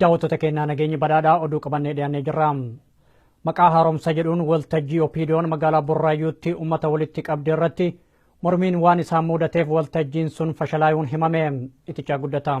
Daawwattoota keenyaa nageenyi badhaadhaa oduu qabannee dhiyaannee jirra. Maqaa haaromsa jedhuun waltajjii Opiidiyoon magaalaa Burraayyuutti uummata walitti qabde irratti mormiin waan isaan muudateef waltajjiin sun fashalaayuun himame. Itichaa guddataa.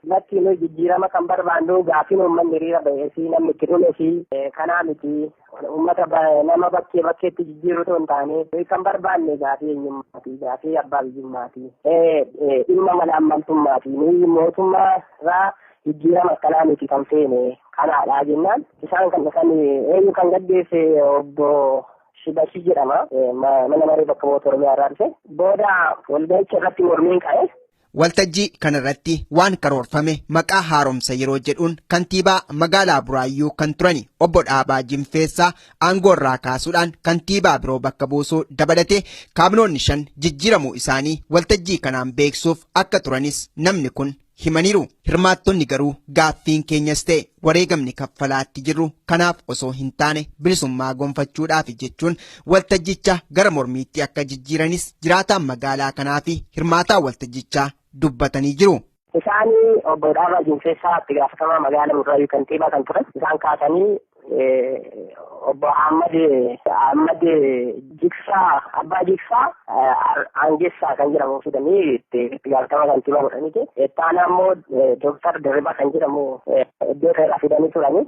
Lakki nuyi jijjiirama kan barbaannu gaaffiin uummanni hiriira ba'ee fi namni itti dhume fi kanaa miti uummata nama bakkee bakkeetti jijjiiruu otoo hin taane nuyi kan barbaanne gaaffii eenyummaati gaaffii abbaa biyyummaati dhimma mala ammaltummaati nuyi mootummaa irraa jijjiirama akkanaa miti kan feene kanaadha jennaan isaan kan dhufan eenyu kan gaggeesse obbo Shibashii jedhama mana maree bakka bu'oota Oromiyaa irraa dhufe booda walga'icha irratti mormiin ka'e. Waltajjii kanarratti waan karoorfame maqaa haaromsa yeroo jedhuun kantiibaa magaalaa Buraayyuu kan turani obbo Dhaabaa Jinfeessaa aangoorraa kaasuudhaan kantiibaa biroo bakka buusuu dabalatee kaabinoonni shan jijjiiramuu isaanii waltajjii kanaan beeksuuf akka turanis namni kun himaniiru. Hirmaattonni garuu gaaffiin keenyas ta'e wareegamni kaffalaatti jirru kanaaf osoo hin taane bilisummaa gonfachuudhaafi jechuun Waltajjicha gara mormiitti akka jijjiiranis jiraataan magaalaa kanaa fi hirmaataa waltajjichaa dubbatanii jiru. Isaan obbo Dhaabaa Jinfeessaa itti gaafatamaa magaalaa Burraayyuu kantiibaa kan turan isaan kaasanii obbo Ahmad Ahmad Jigsaa Abbaa Jigsaa Aangessaa kan jedhamu fidanii itti gaafatamaa kantiibaa godhaniiti. Ittaanaa immoo Dooktar Dirribaa kan jedhamu iddoo irraa fidanii turanii.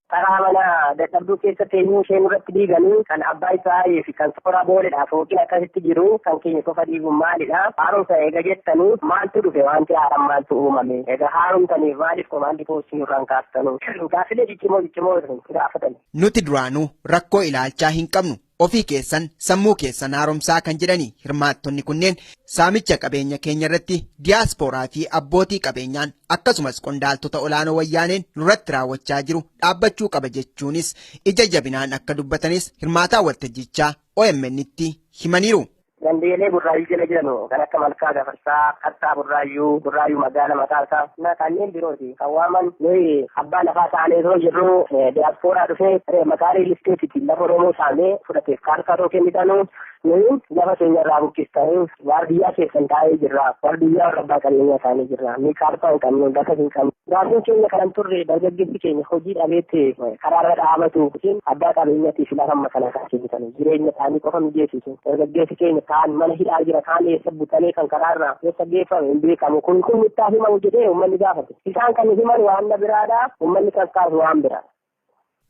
Taraa mana dadhabduu keessa teenyuu ishee nurratti diiganii kan abbaa Israa'elii fi kan sooraa booledha fooqiin akkasitti jiru kan keenya qofa diiguun maalidha? Haaromsa eega jettanii maaltu dhufe wanti haaraan maaltu uumame? Egaa haaromtaniif maaliif komaandii poostii nurraan kaastanu? Gaaffilee ciccimoo ciccimoo isin gaafatani. Nuti duraanuu rakkoo ilaalchaa hin qabnu. ofii keessan sammuu keessan haaromsaa kan jedhani hirmaattonni kunneen saamicha qabeenya keenya irratti diyaaspooraa fi abbootii qabeenyaan akkasumas qondaaltota olaanoo wayyaaneen nurratti raawwachaa jiru dhaabbachuu qaba jechuunis ija jabinaan akka dubbatanis hirmaataa waltajjichaa OMN'tti himaniiru. Gandeelee burraayyuu jala jiranu kan akka Malkaa Gafarsaa, Qarsaa Burraayyuu, Burraayyuu Magaala mataa isaa na kanneen birooti kan waaman nuyi abbaa lafaa taanee osoo jirru diyaaspooraa dhufee maqaa riil isteetiitiin lafa Oromoo saamee fudhateef kaartaa otoo kennitanu nuyi lafa keenya irraa buqqistanii waardiyyaa keessan taa'ee jirra. Waardiyyaa warra abbaa qabeenyaa taa'ee jirra. Nuyi kaartaa hin qabnu, lafa hin qabnu. Gaaffiin keenya kanan turre dargaggeessi keenya hojii dhabeetti karaarra dhaabatu yookiin abbaa qabeenyaatii fi lafa makanaa kan kennitanii jireenya isaanii qofa mijeessitu dargaggeessi keenya kaan mana hidhaa jira kaan eessa butamee kan karaarra eessa geeffame hin beekamu kun kun mittaa himamu jedhee uummanni gaafate isaan kan himan waan biraadha uummanni kan kaasu waan biraadha.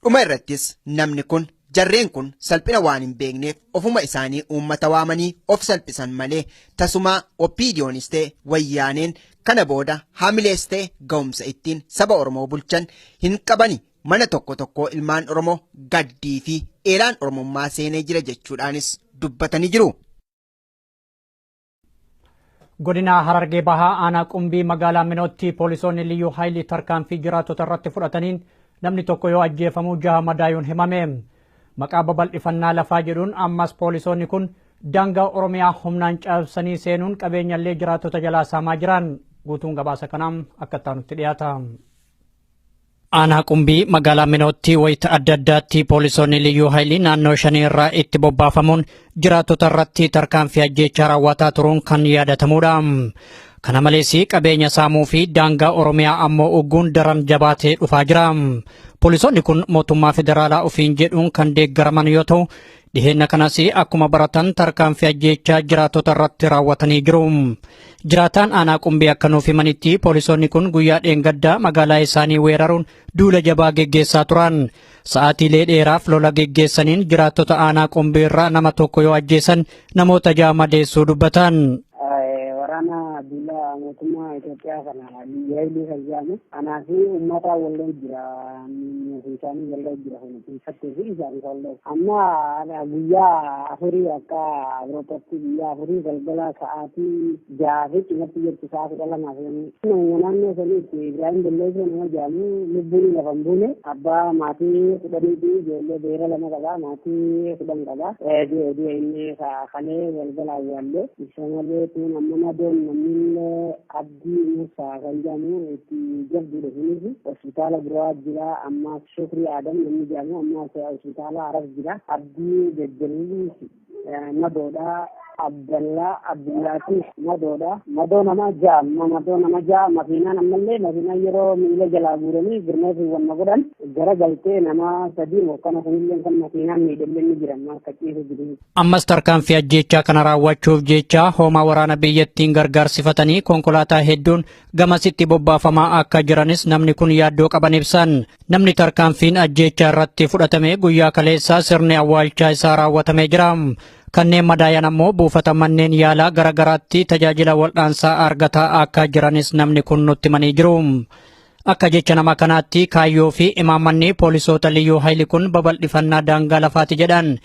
Dhuma irrattis namni kun jarreen kun salphina waan hin beekneef ofuma isaanii uummata waamanii of salphisan malee tasumaa OPDOnis ta'e Wayyaaneen kana booda haamilees ta'e ga'umsa ittiin saba Oromoo bulchan hin qabani mana tokko tokkoo ilmaan Oromoo gaddii fi eelaan Oromummaa seenee jira jechuudhaanis dubbatanii jiru. Godina Harargee Bahaa aanaa Qumbii magaalaa Minootti poolisoonni liyyuu haayilii tarkaanfii jiraattota irratti fudhataniin namni tokko yoo ajjeefamu jaha madaayuun himame. Maqaa babal'ifannaa lafaa jedhuun ammas poolisoonni kun daangaa Oromiyaa humnaan cabsanii seenuun qabeenyallee jiraattota jalaa saamaa jiran. Guutuun gabaasa kanaa akka itti aanutti dhiyaata. Aanaa Qumbii magaalaa Minootti wayita adda addaatti poolisoonni liyyuu haayilii naannoo shanii irraa itti bobbaafamuun jiraattota irratti tarkaanfii ajjeechaa raawwataa turuun kan yaadatamudha. Kana malees qabeenya saamuu fi daangaa Oromiyaa ammoo ugguun daran jabaatee dhufaa jira. Poolisoonni kun mootummaa federaalaa ofiin jedhuun kan deeggaraman yoo ta'u, Dhiheenna kanas akkuma baratan tarkaanfii ajjeechaa jiraattota irratti raawwatanii jiru. Jiraataan aanaa qumbii akka nuuf himanitti poolisoonni kun guyyaa dheengaddaa magaalaa isaanii weeraruun duula jabaa geggeessaa turan. Sa'aatiilee dheeraaf lola geggeessaniin jiraattota aanaa qumbii irraa nama tokko yoo ajjeesan namoota ja'a madeessuu dubbatan. Waraana duula mootummaa Itoophiyaa kana Liyyaayilee kan jedhamu anaa fi uummataa wallee jira nuuf isaanii wallee jira kun keessatti fi isaanii wallee amma guyyaa afurii akka Awuroopaatti guyyaa afurii galgala sa'aatii jaha fi cimatti jirtu sa'a kudha lamaa fi nama naannoo saniitti Ibrahim Belleesoo nama jedhamu lubbuun lafa hin buune abbaa maatii kudhanii fi ijoollee beera lama qaba maatii kudhan qaba du'e du'e inni kalee galgala awwaallee isa malee tuun amma nadoon namni Abdii Muusaa kan jedhamu itti jabduudha sunis hospitaala biraa jira amma Shukrii Adam namni jedhamu amma hospitaala Harar jira Abdii Jajjaliis madoodha Abdallaa Abdullaatiif madoodha madoo nama ja'a amma madoo nama ja'a makiinaan ammallee makiinaan yeroo miila jalaa guuranii girmeefi wanna godhan gara galtee nama sadii mokkana kunillee kan makiinaan miidhamne ni jira amma akka ciisu jiru. Ammas tarkaanfii ajjeechaa kana raawwachuuf jecha hoomaa waraana biyyattiin gargaarsifatanii konkolaataa hedduun gamasitti bobbaafamaa akka jiranis namni kun yaaddoo qaban ibsan. Namni tarkaanfiin ajjeechaa irratti fudhatame guyyaa kaleessaa sirni awwaalchaa isaa raawwatamee jira. Kanneen madaayan ammoo buufata manneen yaalaa gara garaatti tajaajila wal'aansaa argataa akka jiranis namni kun nutti himanii jiru. Akka jecha nama kanaatti kaayyoo fi imaammanni poolisoota liyyuu hayli kun babal'ifannaa daangaa lafaati jedhan.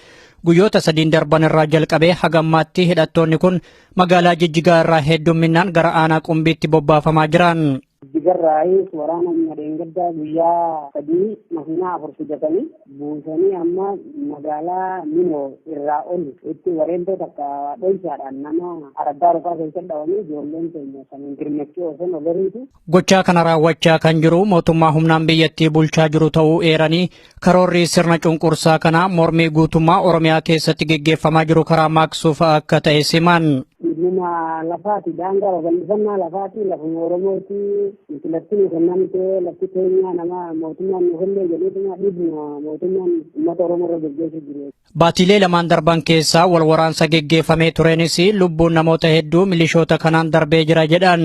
Guyyoota sadiin darban irraa jalqabee haga ammaatti hidhattoonni kun magaalaa Jijjigaa irraa heddumminaan gara aanaa Qumbiitti bobbaafamaa jiran. Jijjigarraayis waraana humna dheengaddaa guyyaa sadii makiinaa afur fidatanii buusanii amma magaalaa Minoo irraa ol itti wareentoo takka dhoysaadhaan nama araddaa rufaa keessatti dhawamee ijoolleen keenya saniin dirmachuu osoo nagariitu. Gochaa kana raawwachaa kan jiru mootummaa humnaan biyyattii bulchaa jiru ta'uu eeranii karoorri sirna cunqursaa kanaa mormii guutummaa Oromiyaa keessatti geggeeffamaa jiru karaa maaqsuuf akka ta'e siman. Dhimma lafaati daangaa babal'ifannaa lafaati lafuma Oromooti nuti lafti nu kennamte lafti keenya nama mootummaan nu kenne jedheetuma dhiibna mootummaan uummata Oromoo irra gaggeessu jiru. Baatiilee lamaan darban keessa wal waraansa geggeeffamee tureenis lubbuun namoota hedduu milishoota kanaan darbee jira jedhan.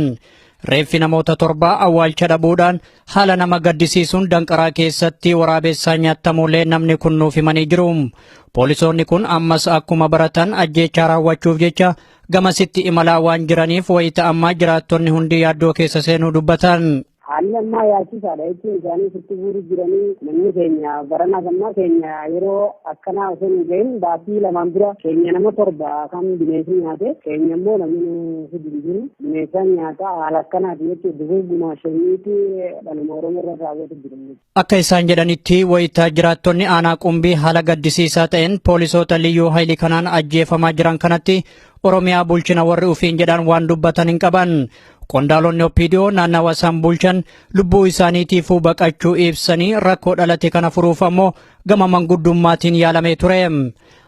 Reeffi namoota torbaa awwaalcha dhabuudhaan haala nama gaddisiisuun danqaraa keessatti waraabessaa nyaattamuulee namni kun nuuf himanii jiru. Poolisoonni kun ammas akkuma baratan ajjeechaa raawwachuuf jecha gamasitti imalaa waan jiraniif wayita ammaa jiraattonni hundi yaaddoo keessa seenuu dubbatan. Haalli ammaa yaachisaadha jechuun isaanii sitti guuru jiranii namni keenya baranaa ammaa keenya yeroo akkanaa osoo hin gahin baatii lamaan dura keenya nama torba kan bineensi nyaate keenya immoo namni hidhi hin jiru bineensaan nyaata haala akkanaati jechuun dugugguma shaniiti dhaluma oromoo irra raawwatu jiru. Akka isaan jedhanitti wayita jiraattonni aanaa qumbii haala gaddisiisaa ta'een poolisoota liyyuu hayilii kanaan ajjeefamaa jiran kanatti Oromiyaa bulchina warri ufiin jedhan waan dubbatan hin qaban. Qondaalonni Oppiidiyoo naannawa isaan bulchan lubbuu isaaniitiifuu baqachuu ibsanii rakkoo dhalate kana furuuf ammoo gama manguddummaatiin yaalamee ture.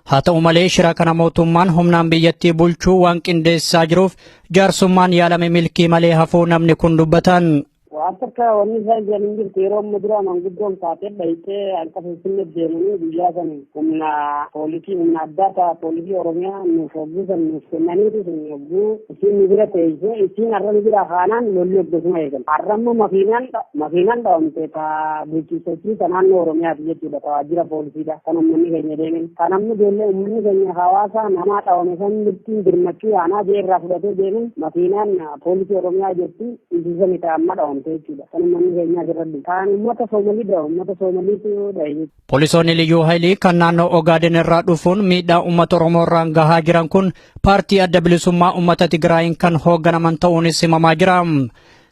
Haa ta'u malee shira kana mootummaan humnaan biyyattii bulchuu waan qindeessaa jiruuf jaarsummaan yaalame milkii malee hafuu namni kun dubbatan. Waan takka wanni isaan jiran hin jirtu yeroo amma duraa manguddoon kaatee dhayxee akka finfinnee deemanii guyyaa san humna poolisii humna addaa ta'a poolisii oromiyaa nuuf hogguu san nuuf kennaniitu sun hogguu isiin nu bira teessee isiin har'a nu bira kaanaan lolli hoggasuma eegalu. Har'a immoo makiinaan makiinaan dhawamte ta bulchiinsottii ta naannoo oromiyaati jechuudha ta waajjira poolisiidha kan uummanni keenya deemen. Kan amma ijoollee uummanni keenya hawaasaa namaa dhawame san mirtiin birmachuu yaanaa jee irraa fudhatee deemen makiinaan poolisii oromiyaa jirti. Injisa ni ta'a amma dhawamte jechuudha. Kan uummanni keenyaa jirradhu. Kan uummata Soomalii dha. Uummata Soomaliitu dhahe. Poolisoonni Liyyuu Haayilii kan naannoo Ogaaden irraa dhufuun miidhaa uummata Oromoo irraan gahaa jiran kun paartii adda bilisummaa uummata Tigraayiin kan hoogganaman ta'uunis himamaa jira.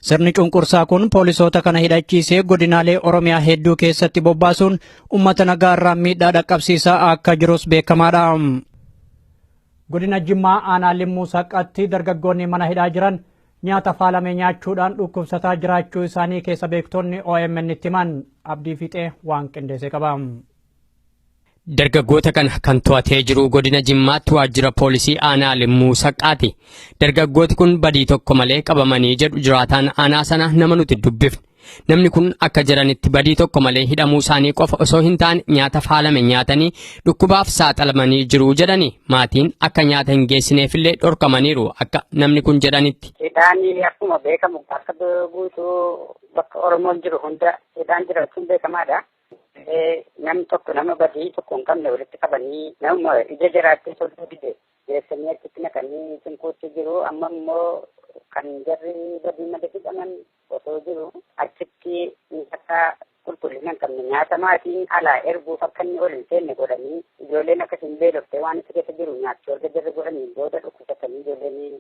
Sirni cunqursaa kun poolisoota kana hidhachiisee godinaalee Oromiyaa hedduu keessatti bobbaasuun uummata nagaa irraan miidhaa dhaqqabsiisaa akka jirus beekamaadha. Godina Jimmaa aanaa Limmuu Saqqatti dargaggoonni mana hidhaa jiran Nyaata faalame nyaachuudhaan dhukkubsataa jiraachuu isaanii keessa beektonni OMN'tti himan. Abdii Fiixee waan qindeesse qaba. Dargaggoota kana kan to'atee jiru godina Jimmaatti waajjira poolisii aanaa Limmuu Saqqaati. Dargaggooti kun badii tokko malee qabamanii jedhu jiraataan aanaa sana nama nuti dubbifne. Namni kun akka jedhanitti badii tokko malee hidhamuu isaanii qofa osoo hin taane nyaata faalame nyaatanii dhukkubaaf saaxilamanii jiru jedhani. Maatiin akka nyaata hin geessineefillee dhorkamaniiru akka namni kun jedhanitti. Hidhaan akkuma beekamu akka guutuu bakka Oromoon jiru hunda hidhaan jiraachuun beekamaadha. Namni tokko nama badii tokko hin qabne walitti qabanii nama ija jiraatee sodduu dide geessanii achitti naqanii cinquutti jiru amma immoo kan jarri badii malee hidhaman osoo jiru achitti nyaata qulqullina hin qabne nyaata maatiin alaa erguuf akka inni ol hin seenne godhanii ijoolleen akka hin beelofte waan itti keessa jiru nyaachuu erga jirri godhanii booda dhukkubsatanii ijoolleen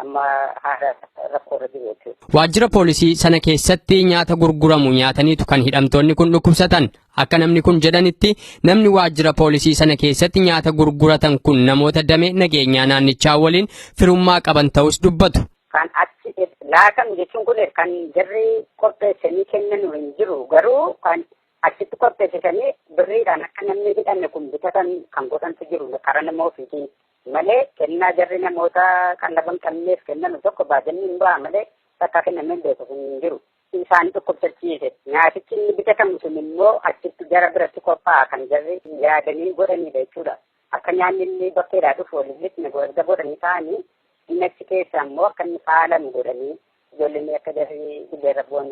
amma haala rakkoorra jiru jechuudha. Waajjira poolisii sana keessatti nyaata gurguramu nyaataniitu kan hidhamtoonni kun dhukkubsatan. Akka namni kun jedhanitti namni waajjira poolisii sana keessatti nyaata gurguratan kun namoota damee nageenyaa naannichaa waliin firummaa qaban ta'us dubbatu. kan achi laatamu jechuun kun kan jarri qopheessanii kennanu hin jiru garuu kan achitti qopheessisanii birriidhaan akka namni hidhanne kun bitatan kan godhantu jiru karaa nama ofiitiin malee kennaa jarri namoota qallaban qabneef kennanu tokko baajanii hin ba'a malee takka kennamee beeku kun hin jiru. Isaan dhukkubsachiise nyaatichi inni bitatamu sun immoo achitti jara biratti qophaa'a kan jarri yaadanii godhanidha jechuudha. Akka nyaanni illee bakkeedhaa dhufu wal hin lixne erga godhanii taa'anii inni achi keessa ammoo akka inni faalamu godhanii ijoolleen akka jarri dirreerra bu'an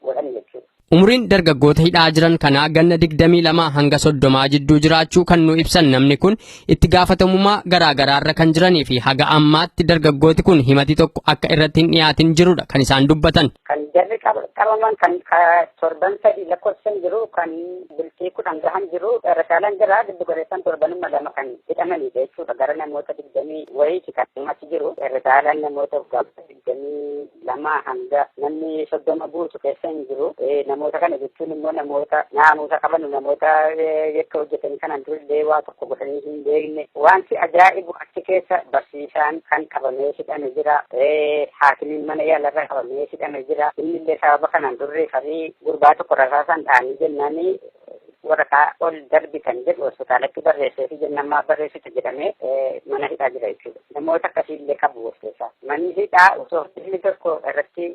godhan jechuudha. Umuriin dargaggoota hidhaa jiran kanaa ganna 22 hanga 30 jidduu jiraachuu kan nu ibsan namni kun itti gaafatamummaa garaa garaarra kan jiranii fi haga ammaatti dargaggooti kun himati tokko akka irratti hin dhiyaatin jirudha kan isaan dubbatan. Kan jarri qabaman kan torban sadii lakkoofsan jiru kan bultii kudhan gahan jiru rashaalaan jira giddu galeessan torbanuma lama kan hidhamanidha jechuudha gara namoota digdamii wayiiti kan achi jiru rashaalaan namoota gaafata digdamii lama hanga namni soddoma guutu keessa hin jiru namoota kana jechuun immoo namoota naamusa qaban namoota yakka hojjetanii kanaan durillee waa tokko godhanii hin beekne wanti ajaa'ibu Achi keessa barsiisaan kan qabamee hidhame jira. Haakimiin mana yaalarra qabamee hidhame jira. Innillee sababa kanaan durri farii gurbaa tokko rasaasaan dhahanii jennaanii waraqaa ol darbitan jedhu hospitaalatti barreessee fi jennaan maaf barreessitu jedhamee mana hidhaa jira jechuudha. Namoota akkasiillee qabu of keessaa. Manni hidhaa osoo dhimmi tokko irratti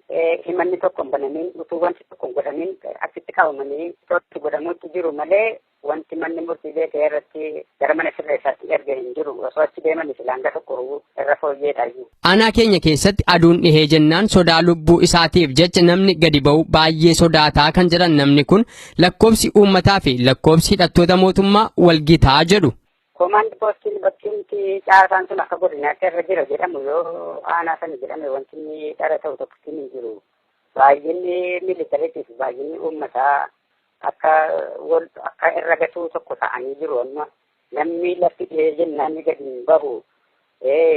himanni tokko hin banamin utuu wanti tokko hin godhamin achitti qabamanii to'atti godhamuutti jiru malee Wanti manni murtii beekee irratti gara mana sirreessaatti erge hin jiru. Osoo achi deemanii silaa hanga tokko irra fooyyeedhayyu. Aanaa keenya keessatti aduun dhihee jennaan sodaa lubbuu isaatiif jecha namni gadi ba'u baayyee sodaata kan jedhan namni kun, lakkoofsi uummataa fi lakkoofsi hidhattoota mootummaa wal gita jedhu. Koomaand poostiin bakkeetti caasaan sun akka godinaatti irra jira jedhamu yoo aanaa sana jedhame wanti inni dhara ta'u tokkittiin hin jiru. Baay'inni miilitariitii fi baay'inni uummataa akka wal akka irra gatuu tokko ta'anii jiru amma namni lafti dhihee jennaan ni gadi hin bahu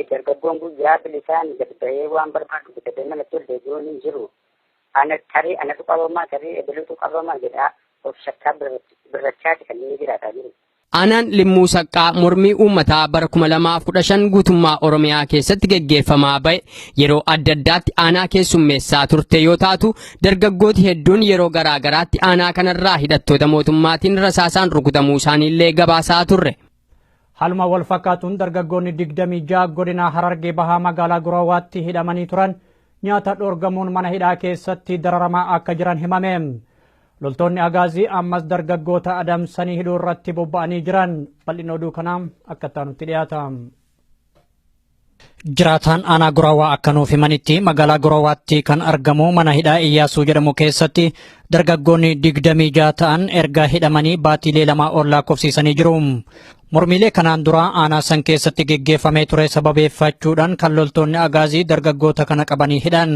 dargaggoon guyyaa bilisaan gad bahee waan barbaadu bitatee manatti ol deebi'uun hin jiru ana tarii anatu qabamaa tarii ebilutu qabamaa jedhaa of shakkaa birrachaati kan inni jiraataa jiru. Aanaan Limmuu Saqqaa mormii uummataa bara 2015 guutummaa Oromiyaa keessatti geggeeffamaa ba'e yeroo adda addaatti aanaa keessummeessaa turte yoo taatu dargaggooti hedduun yeroo garaa garaatti aanaa kanarraa hidhattoota mootummaatiin rasaasaan rukutamuu isaaniillee gabaasaa turre. Haaluma wal fakkaatuun dargaggoonni 26 godina Harargee Bahaa magaalaa Guraawaatti hidhamanii turan nyaata dhoorgamuun mana hidhaa keessatti dararamaa akka jiran himame. Loltoonni Agaazii ammas dargaggoota adamsanii hidhuu irratti bobba'anii jiran bal'ina oduu kanaa akka itti aanutti dhiyaata. Jiraataan aanaa Guraawaa akka nuuf himanitti magaalaa Guraawaatti kan argamu mana hidhaa Iyyaasuu jedhamu keessatti dargaggoonni digdamii jaha ta'an erga hidhamanii baatiilee lama ol lakkoofsiisanii jiru. Mormiilee kanaan dura aanaa san keessatti geggeeffamee ture sababeeffachuudhaan kan loltoonni agaazii dargaggoota kana qabanii hidhan.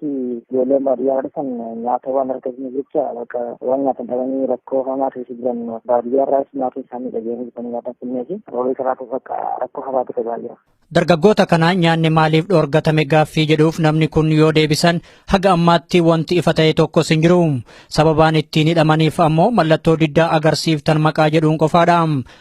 keessatti ijoollee baadiyyaa dhufan nyaata waan argatanii jecha bakka waan nyaatan dhabanii rakkoo hamaa keessa jiran baadiyyaa irraas maatii isaanii dhageeyanii dhufanii nyaata finnee fi roobee kanaatu bakka rakkoo hamaa keessa gahaa jira. Dargaggoota kana nyaanni maaliif dhoorgatame gaaffii jedhuuf namni kun yoo deebisan haga ammaatti wanti ifa ta'e tokkos hin jiru. Sababaan ittiin hidhamaniif ammoo mallattoo diddaa agarsiiftan maqaa jedhuun qofaadha.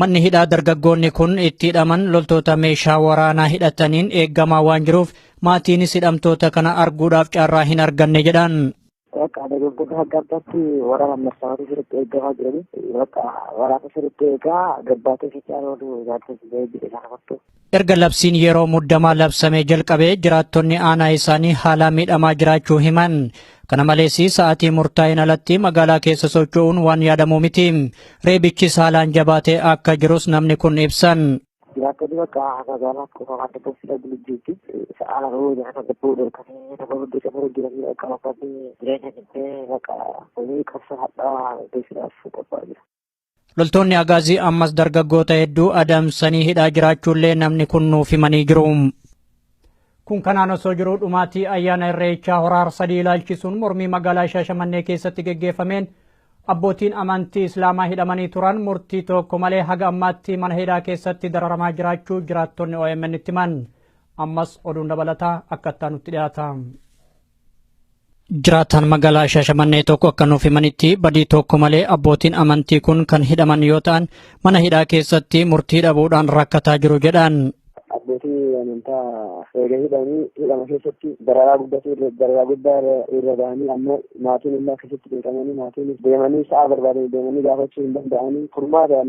Manni hidhaa dargaggoonni kun itti hidhaman loltoota meeshaa waraanaa hidhataniin eeggamaa waan jiruuf maatiinis hidhamtoota kana arguudhaaf carraa hin arganne jedhan. Bakka dargaggoota adda addaatti waraana marsaawwan sirriitti eegamaa jiranii bakka waraana sirriitti eegaa gabbaatee fi caalaa oolu ilaalcha ba'ee jiru isaan amartu. Erga labsiin yeroo muddamaa labsamee jalqabee jiraattonni aanaa isaanii haalaa miidhamaa jiraachuu himan. Kana malees sa'aatii murtaa'een alatti magaalaa keessa socho'uun waan yaadamuu miti. Reebichis haalaan jabaatee akka jirus namni kun ibsan. Jiraattonni bakka magaalaa kuufamaa dadhabsiisa bulchiitti sa'aa lama yoo jiraata gabbuu dhorkanii nama hundi qabu jiranii akka bakkaatti jireenya dhibbee bakka hojii qabsa hadhaa beeksisuudhaaf qophaa'aa jira. Loltoonni Agaazii ammas dargaggoota hedduu adamsanii hidhaa jiraachuullee namni kun nuuf himanii jiru. Kun kanaan osoo jiruu dhumaatii ayyaana irreechaa horaar sadii ilaalchisuun mormii magaalaa Shaashamannee keessatti geggeeffameen abbootiin amantii Islaamaa hidhamanii turan murtii tokko malee haga ammaatti mana hidhaa keessatti dararamaa jiraachuu jiraattonni OMN itti himan. Ammas oduun dabalataa akka itti aanutti dhiyaata. Jiraataan magaalaa Shaashamannee tokko akka nuuf himanitti badii tokko malee abbootiin amantii kun kan hidhaman yoo ta'an mana hidhaa keessatti murtii dhabuudhaan rakkataa jiru jedhan. Abbootii amantaa eega hidhanii hidhama keessatti dararaa guddatu dararaa guddaa irra gahanii ammoo maatiin illee akkasitti beekamanii maatiin deemanii sa'a barbaadanii deemanii gaafachuu hin danda'anii furmaata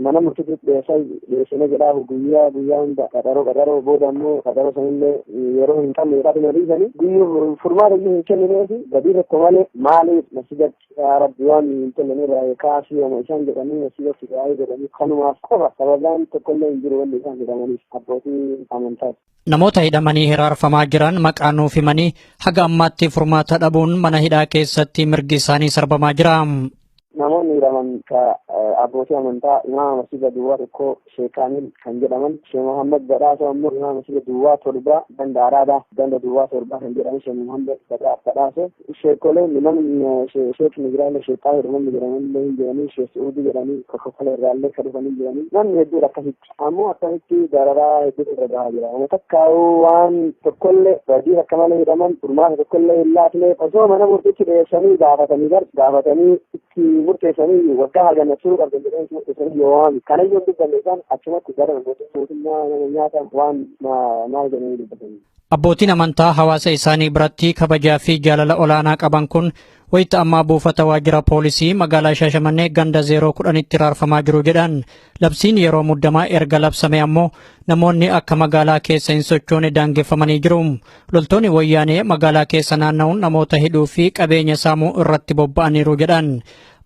mana murtiitti dhiyeessaa Deebisanii jedhaa guyyaa guyyaa hunda qaxaroo qaxaroo booda ammoo qaxaroo sanillee yeroo hin qabne jedhaa dhuma dhiisanii guyyuu furmaata iyyuu hin kennineefi badii tokko malee maaliif masjidatti yaa rabbi waan hin tollanee baay'ee kaasii yooma isaan jedhanii masjidatti baay'ee jedhanii kanumaaf qofa sababaan tokkollee hin jiru wanni isaan jedhamaniif abbootii amantaati. Namoota hidhamanii hiraarfamaa jiran maqaa nuuf himanii haga ammaatti furmaata dhabuun mana hidhaa keessatti mirgi isaanii sarbamaa jira. Namoonni hidhaman ka abbootii amantaa imaama masjida duwwaa tokko Sheek Kaamil kan jedhaman Sheek Muhammad Badhaasoo ammoo imaama masjida duwwaa torba ganda Araadaa ganda duwwaa torba kan jedhaman Sheek Muhammad Badhaasoo Sheekolee minan sheek Nijiraalee sheek Xaahir namni jedhaman illee hin jiranii sheek Su'uudii jedhanii kokokolee irraa illee kan dhufan hin jiranii namni hedduun akkasitti ammoo akkasitti dararaa hedduutu irra gahaa jira nama takkaa'uu waan tokkollee badii akka malee hidhaman furmaata tokkollee hin laatne osoo mana murtiitti dhiyeessanii gaafatanii gar gaafatanii itti murteessanii waggaa hagan turuu qabdan jedhanii itti murteessanii yoo waan kanayyuu hin dubbanne isaan achumatti gara mootummaa nama nyaatan waan maal jedhanii dubbatanii. Abbootiin amantaa hawaasa isaanii biratti kabajaa fi jaalala olaanaa qaban kun wayita ammaa buufata waajjira poolisii magaalaa Shaashamannee ganda 010tti raarfamaa jiru jedhan. Labsiin yeroo muddamaa erga labsame ammoo namoonni akka magaalaa keessa hin sochoone daangeffamanii jiru. Loltoonni wayyaanee magaalaa keessa naanna'uun namoota hidhuu fi qabeenya saamuu irratti bobba'aniiru jedhan.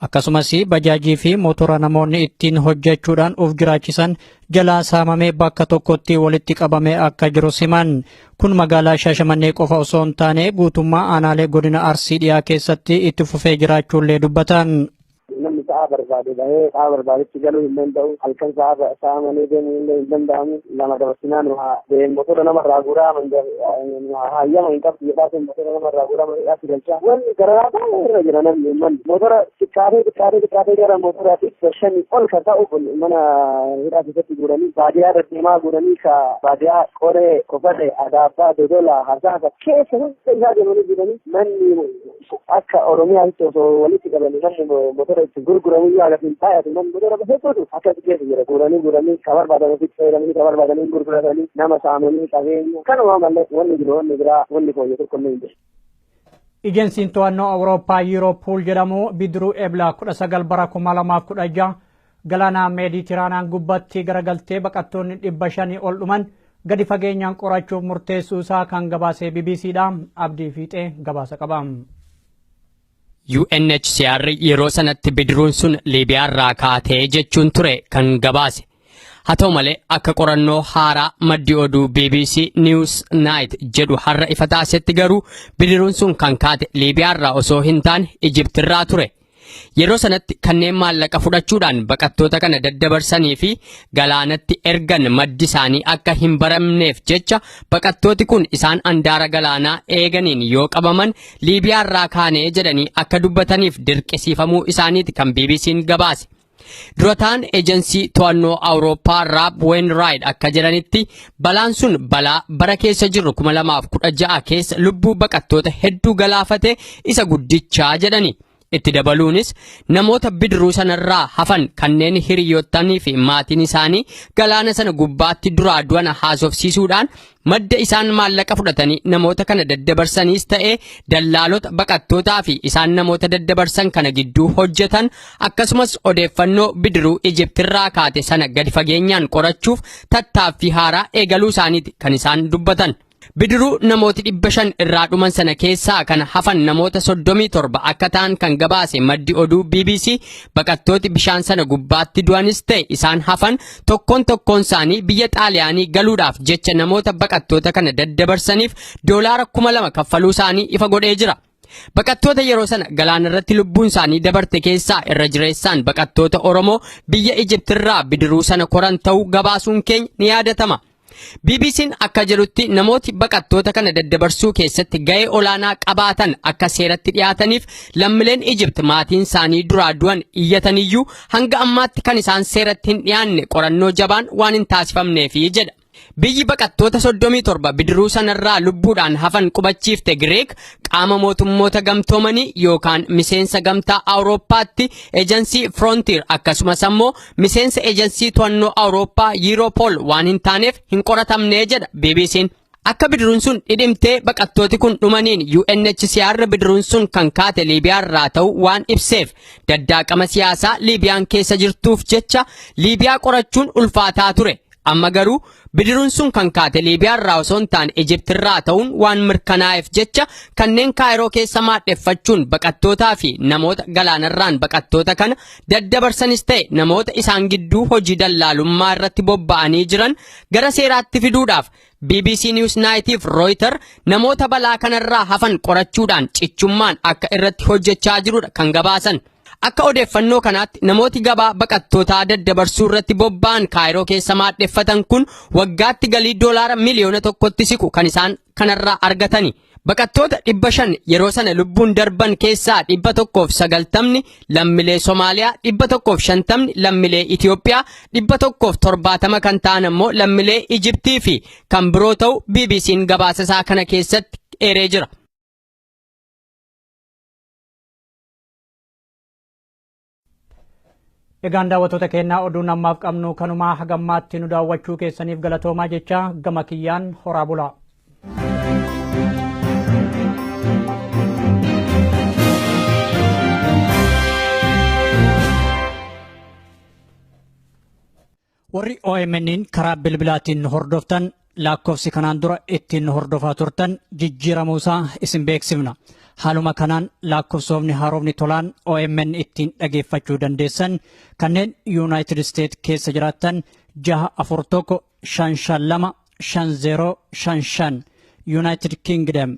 Akkasumas bajaajii fi motora namoonni ittiin hojjechuudhaan of jiraachisan jalaa saamamee bakka tokkotti walitti qabamee akka jiru siman kun magaalaa Shaashamannee qofa osoo hin taane guutummaa aanaalee godina Arsii dhiyaa keessatti itti fufee jiraachuullee dubbatan. namni sa'a barbaade bahee sa'a barbaadetti galuu hin danda'u halkan sa'a sa'a malee deemuu illee hin danda'amu lama dabarsinaan deemu motora namarraa guuraa hayyama hin qabdu jedhaa sun motora nama irraa godhama hidhaatti galchaa wanni gararaa baay'ee irra jira namni uummanni motora xiqqaatee xiqqaatee xiqqaatee gara motora dhibba shanii ol kan ta'u kun mana hidhaa keessatti guuranii baadiyaa irra deemaa guuranii ka baadiyaa qoree kofate adaabbaa dodola hasaasa keessa hunda isaa deemanii jiranii manni Akka Oromiyaatti osoo walitti qabanii namni motora itti gurguramu iyyuu hagas hin baay'atu namni motora hedduutu akkas keessa jira guuranii guuranii ka barbaadan ofitti fayyadamanii ka barbaadanii gurguratanii nama saamanii qabeenya kanuma malee wanni jiru wanni biraa wanni fooyyee tokko illee hin jiru. Ejensiin to'annoo Awurooppaa Yiiroopuul jedhamu bidiruu Ebla 19 bara 2016 Galaana Meediitiraanaan gubbatti garagaltee baqattoonni 500 ol dhuman gadi fageenyaan qorachuuf murteessuu isaa kan gabaasee BBC dha. Abdii Fiixee gabaasa qaba. UNHCR yeroo sanatti bidiruun sun Liibiyaarraa kaatee jechuun ture kan gabaase. Haa ta'u malee akka qorannoo haaraa maddi oduu BBC News Night jedhu har'a ifa taasetti garuu bidiruun sun kan kaate Liibiyaarraa osoo hin taane Ijiptirraa ture. Yeroo sanatti kanneen maallaqa fudhachuudhaan baqattoota kana daddabarsanii fi galaanatti ergan maddi isaanii akka hin baramneef jecha baqattooti kun isaan andaara galaanaa eeganiin yoo qabaman Liibiyaa irraa kaanee jedhanii akka dubbataniif dirqisiifamuu isaaniiti kan BBC'n gabaase. Durataan ejansii to'annoo Awurooppaa Raab Weenraayid akka jedhanitti balaan sun balaa bara keessa jirru 2016 keessa lubbuu baqattoota hedduu galaafate isa guddichaa jedhani. Itti dabaluunis namoota bidiruu sanarraa hafan kanneen hiriyootanii fi maatiin isaanii galaana sana gubbaatti duraa du'an haasofsiisuudhaan Madda isaan maallaqa fudhatanii namoota kana daddabarsaniis ta'e dallaalota baqattootaa fi isaan namoota daddabarsan kana gidduu hojjetan akkasumas odeeffannoo bidiruu Ijiptirraa kaate sana gadi fageenyaan qorachuuf tattaaffii haaraa eegaluu isaaniiti kan isaan dubbatan. Bidiruu namooti dhibba shan irraa dhuman sana keessaa kan hafan namoota soddomii torba akka ta'an kan gabaase maddi oduu BBC baqattooti bishaan sana gubbaatti du'anis ta'e isaan hafan tokkoon tokkoon isaanii biyya xaaliyaanii galuudhaaf jecha namoota baqattoota kana daddabarsaniif doolaara kuma lama kaffaluu isaanii ifa godhee jira. Baqattoota yeroo sana galaana irratti lubbuun isaanii dabarte keessaa irra jireessaan baqattoota Oromoo biyya Ijiptirraa bidiruu sana koran ta'uu gabaasuun keenya ni yaadatama. BBC'n akka jedhutti namooti baqattoota kana daddabarsuu keessatti ga'ee olaanaa qabaatan akka seeratti dhiyaataniif lammileen Ijipt maatiin isaanii duraa du'an iyyataniyyuu hanga ammaatti kan isaan seeratti hin dhiyaanne qorannoo jabaan waan hin taasifamneefi jedha. Biyyi baqattoota 37 bidiruu sanarraa lubbuudhaan hafan qubachiifte Gireek qaama mootummoota gamtoomanii yookaan miseensa gamtaa Awurooppaatti ejansii Frontier akkasumas ammoo miseensa eejansii to'annoo Awurooppaa Yiiroopool waan hin taaneef hin qoratamne jedha BBC'n. Akka bidiruun sun dhidhimtee baqattooti kun dhumaniin UNHCR bidiruun sun kan kaate Liibiyaa irraa ta'u waan ibseef daddaaqama siyaasaa Liibiyaan keessa jirtuuf jecha Liibiyaa qorachuun ulfaataa ture. Amma garuu bidiruun sun kan kaate Liibiyaarraa osoo hin taane Ijiptirraa ta'uun waan mirkanaa'eef jecha kanneen Kaayiroo keessa maadheffachuun baqattootaa fi namoota galaanarraan baqattoota kana daddabarsanis ta'e namoota isaan gidduu hojii dallaalummaa irratti bobba'anii jiran gara seeraatti fiduudhaaf BBC News Naayitiif Rooyitar namoota balaa kanarraa hafan qorachuudhaan cichummaan akka irratti hojjechaa jirudha kan gabaasan. Akka odeeffannoo kanaatti namooti gabaa baqattootaa daddabarsuu irratti bobba'an Kaayiroo keessa maadheffatan kun waggaatti galii doolaara miliyoona tokkotti siqu kan isaan kanarraa argatani. Baqattoota dhibba shan yeroo sana lubbuun darban keessaa dhibba tokkoof sagaltamni lammilee Somaaliyaa, dhibba tokkoof shantamni lammilee Itoophiyaa, dhibba tokkoof torbaatama kan ta'an ammoo lammilee Ijibtii fi kan biroo ta'u BBC'n gabaasa isaa kana keessatti eeree jira. Egaan daawwattoota keenyaa oduun ammaaf qabnu kanumaa hagammaatti nu daawwachuu keessaniif galatoomaa jecha gama kiyyaan horaa bulaa. Warri OMN'n karaa bilbilaatiin nu hordoftan lakkoofsi kanaan dura ittiin nu hordofaa turtan jijjiiramuu isaa isin beeksifna. Haaluma kanaan lakkoofsoofni haarofni tolaan OMN ittiin dhageeffachuu dandeessan kanneen Yuunaayitid Isteet keessa jiraattan 641 552 5055 Yuunaayitid Kingdom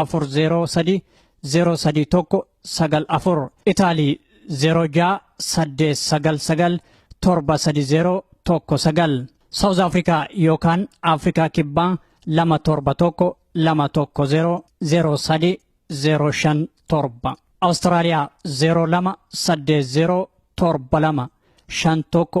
afur zeeroo sadii zeeroo sadii tokko sagal afur itaalii zeeroo ja'a saddeet sagal sagal torba sadii zeeroo tokko sagal saawuz afrikaa yookaan afrikaa kibbaa lama torba tokko lama tokko zeeroo zeeroo sadii zeeroo shan torba awustiraaliyaa zeeroo lama saddeet zeeroo torba lama shan tokko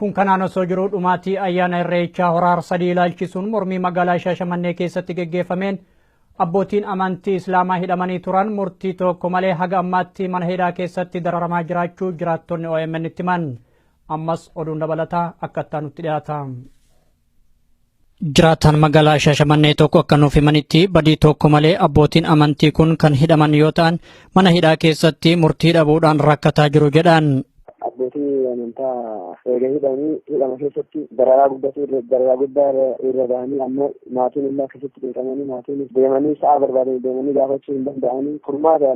Kun kanaan osoo jiruu dhumaatii ayyaana irreechaa hora harsadii ilaalchisuun mormii magaalaa Shaashamannee keessatti geggeeffameen abbootiin amantii Islaamaa hidhamanii turan murtii tokko malee haga ammaatti mana hidhaa keessatti dararamaa jiraachuu jiraattonni OMN itti himan. Ammas oduun dabalataa akka itti aanutti dhiyaata. Jiraataan magaalaa Shaashamannee tokko akka nuuf himanitti badii tokko malee abbootiin amantii kun kan hidhaman yoo ta'an mana hidhaa keessatti murtii dhabuudhaan rakkataa jiru jedhan. Abbootii amantaa erga hidhanii hidhama keessatti dararaa guddatu dararaa guddaa irra bahanii ammoo maatiin illee akkasitti beekamanii maatiin deemanii sa'a barbaadanii deemanii gaafachuu hin danda'anii furmaata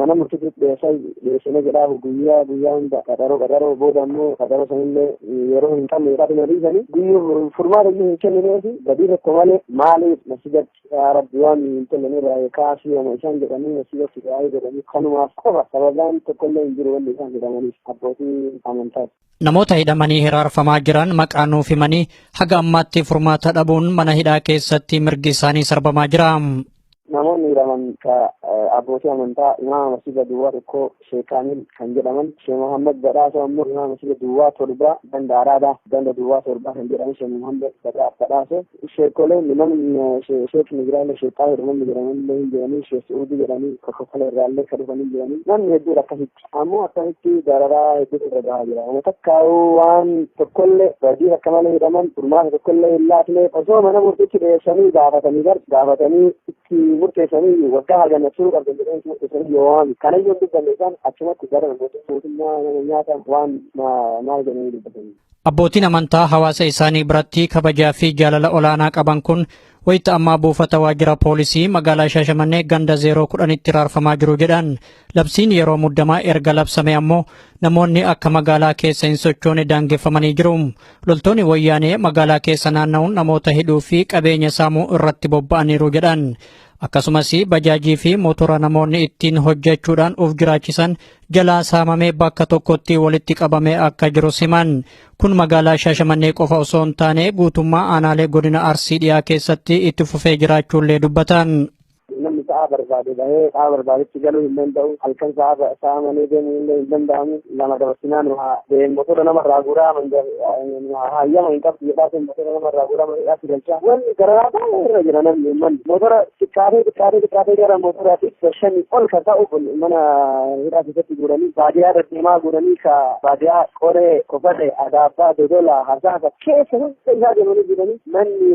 mana murtiitti dhiyeessaa Dhiyeessina jedhaa guyyaa guyyaa hunda qaxaroo qaxaroo booda immoo qaxaroo sanillee yeroo hin qabne irraa dhuma dhiisanii guyyuu furmaata iyyuu hin kennineefi badii tokko malee maaliif masjidatti yaa rabbi waan hin tollanee baay'ee kaasii homa isaan jedhanii masjidatti baay'ee jedhanii kanumaaf qofa sababaan tokkollee hin jiru wanni isaan jedhamaniif abbootii amantaati. Namoota hidhamanii hiraarfamaa jiran maqaa nuuf himanii haga ammaatti furmaata dhabuun mana hidhaa keessatti mirgi isaanii sarbamaa jira. Namoonni hidhaman ka abbootii amantaa imaama masjida duwwaa tokko Sheek Kaamil kan jedhaman Sheek Muhammad Badhaasoo ammoo imaama masjida duwwaa torba ganda Araadaa ganda duwwaa torba kan jedhaman Sheek Muhammad Badhaasoo Sheekoleen namni sheek Nigiraalee sheekaa jedhamanni jedhamanillee hin jiranii sheek Su'uudii jedhanii kokkofala irraallee ka dhufanii jiranii namni hedduudha akkasitti ammoo akkasitti dararaa hedduutu irra gahaa jira nama takkaa'uu waan tokkollee badii akka malee hidhaman furmaata tokkollee hin laatne osoo mana murtiitti dhiyeessanii gaafatanii gar gaafatanii itti murteessanii waggaa hagana turuu qabdan jedhanii itti murteessanii yoo waan kana yoo dubbanne isaan achumatti gara mootummaa nama nyaata waan maal jedhanii dubbatanii. Abbootiin amantaa hawaasa isaanii biratti kabajaa fi jaalala olaanaa qaban kun wayita ammaa buufata waajjira poolisii magaalaa Shaashamannee ganda 010tti raarfamaa jiru jedhan. Labsiin yeroo muddamaa erga labsame ammoo namoonni akka magaalaa keessa hin sochoone daangeffamanii jiru. Loltoonni wayyaanee magaalaa keessa naanna'uun namoota hidhuu fi qabeenya saamuu irratti bobba'aniiru jedhan. Akkasumas bajaajii fi motora namoonni ittiin hojjechuudhaan of jiraachisan jalaa saamamee bakka tokkotti walitti qabamee akka jiru siman kun magaalaa shaashamannee qofa osoo hin taane guutummaa aanaalee godina arsii dhiyaa keessatti itti fufee jiraachuullee dubbatan. namni sa'a barbaade bahee sa'a barbaadetti galuu hin danda'u halkan sa'a sa'a malee deemuu illee hin danda'amu lama dabarsinaan waa deemu motora namarraa guuraa hayyama hin qabdu jedhaa sun motora nama irraa godhama jedhaa si galchaa wanni gararaa baay'ee irra jira namni uummanni motora xiqqaatee xiqqaatee xiqqaatee gara motora dhibba shanii ol kan ta'u kun mana hidhaa keessatti guuranii baadiyaa irra deemaa guuranii ka baadiyaa qoree kofate adaabbaa dodola hasaasa keessa hunda isaa deemanii jiranii manni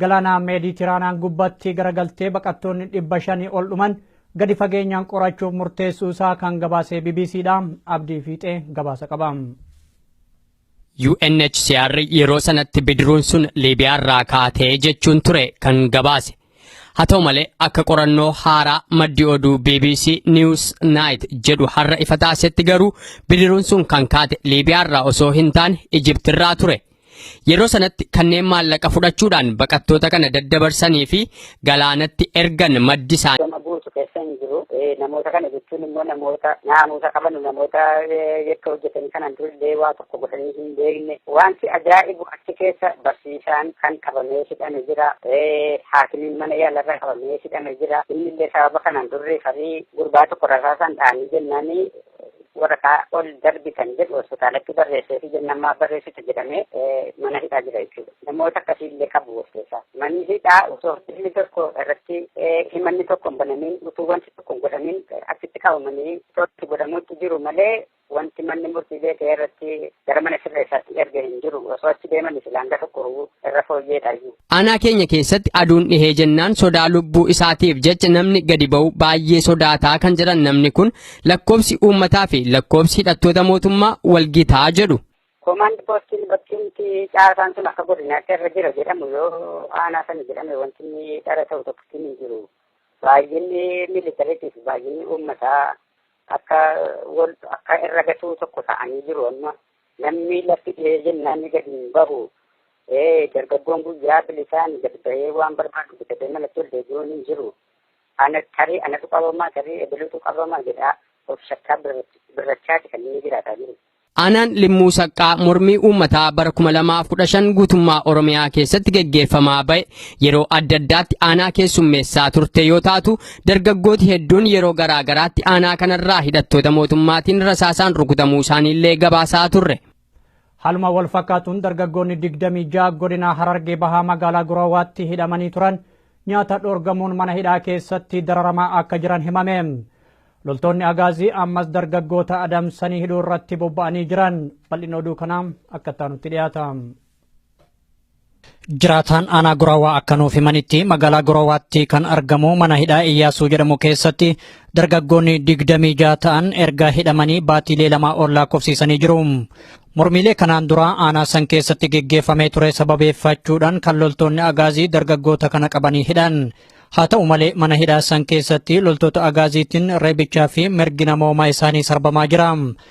Galaana Meediitiraanaan gubbatti garagaltee baqattoonni 500 ol dhuman gadi fageenyaan qorachuuf murteessuu isaa kan gabaasee BBC dha. Abdii Fiixee gabaasa qaba. UNHCR yeroo sanatti bidiruun sun Liibiyaa irraa kaatee jechuun ture kan gabaase. Haa ta'u malee akka qorannoo haaraa maddi oduu BBC News Night jedhu har'a ifa taasetti garuu bidiruun sun kan kaate Liibiyaa irraa osoo hin taane Ijipti irraa ture. Yeroo sanatti kanneen maallaqa fudhachuudhaan baqattoota kana daddabarsanii fi galaanatti ergan maddi isaanii. Gama guutu keessa hin jiru. Namoota kana jechuun immoo namoota naamusa qabanu namoota yakka hojjetanii kanaan durillee waa tokko godhanii hin beekne. Wanti ajaa'ibu achi keessa barsiisaan kan qabamee hidhame jira. Haakimiin mana yaalarra qabamee hidhame jira. Innillee sababa kanaan durri farii gurbaa tokko rasaasaan dhaanii jennaanii waraqaa ol darbitan jedhu hospitaalatti barreessee fi jennaan maaf barreessitu jedhamee mana hidhaa jira jechuudha. Namoota akkasii illee qabu of keessaa. Manni hidhaa osoo dhimmi tokko irratti himanni tokko hin banamin utuu wanti tokko hin godhamin achitti qabamanii itti godhamuutti jiru malee wanti manni murtii beekee irratti gara mana sirreessaatti erge hin jiru osoo achi deeman silaa hanga tokko irra fooyyeedha iyyuu. Aanaa keenya keessatti aduun dhihee jennaan sodaa lubbuu isaatiif jecha namni gadi ba'u baay'ee sodaataa kan jedhan namni kun lakkoobsi uummataa fi lakkoobsi hidhattoota mootummaa walgitaa jedhu. Koomaand poostiin bakkeetti caasaan sun akka godinaatti irra jira jedhamu yoo aanaa sana jedhame wanti inni dhara ta'u tokkotti hin jiru. Baay'inni miilitariitiif baay'inni uummataa akka wal akka irra gatuu tokko ta'anii jiru amma Namni lafti dhihee jennaan ni gadi hin bahu. Dargaggoon guyyaa bilisaan gad bahee waan barbaadu bitatee malatti ol deebi'uun hin jiru. Ana tarii anatu qabamaa tarii ebelutu qabamaa jedhaa of shakkaa birrachaati kan inni jiraataa jiru. Aanaan Limmuu Saqqaa mormii uummataa bara 2015 guutummaa Oromiyaa keessatti geggeeffamaa ba'e yeroo adda addaatti aanaa keessummeessaa turte yoo taatu Dargaggooti hedduun yeroo garaa garaatti aanaa kanarraa hidhattoota mootummaatiin rasaasaan rukutamuu isaaniillee gabaasaa turre. Haaluma wal fakkaatuun dargaggoonni 26 godina Harargee Bahaa magaalaa Guraawaatti hidhamanii turan nyaata dhoorgamuun mana hidhaa keessatti dararamaa akka jiran himame. Loltoonni Agaazii ammas dargaggoota adamsanii hidhuu irratti bobba'anii jiran. Bal'inni oduu kanaa akka itti aanutti dhiyaata. Jiraataan aanaa Guraawaa akka nuuf himanitti magaalaa Guraawaatti kan argamu mana hidhaa Iyyaasuu jedhamu keessatti dargaggoonni digdamii jaha ta'an erga hidhamanii baatiilee lamaa ol lakkoofsiisanii jiru. Mormiilee kanaan dura aanaa san keessatti geggeeffamee ture sababeeffachuudhaan kan loltoonni agaazii dargaggoota kana qabanii hidhan. Haa ta'u malee mana hidhaa san keessatti loltoota agaaziitiin reebichaa fi mirgi namoomaa isaanii sarbamaa jira.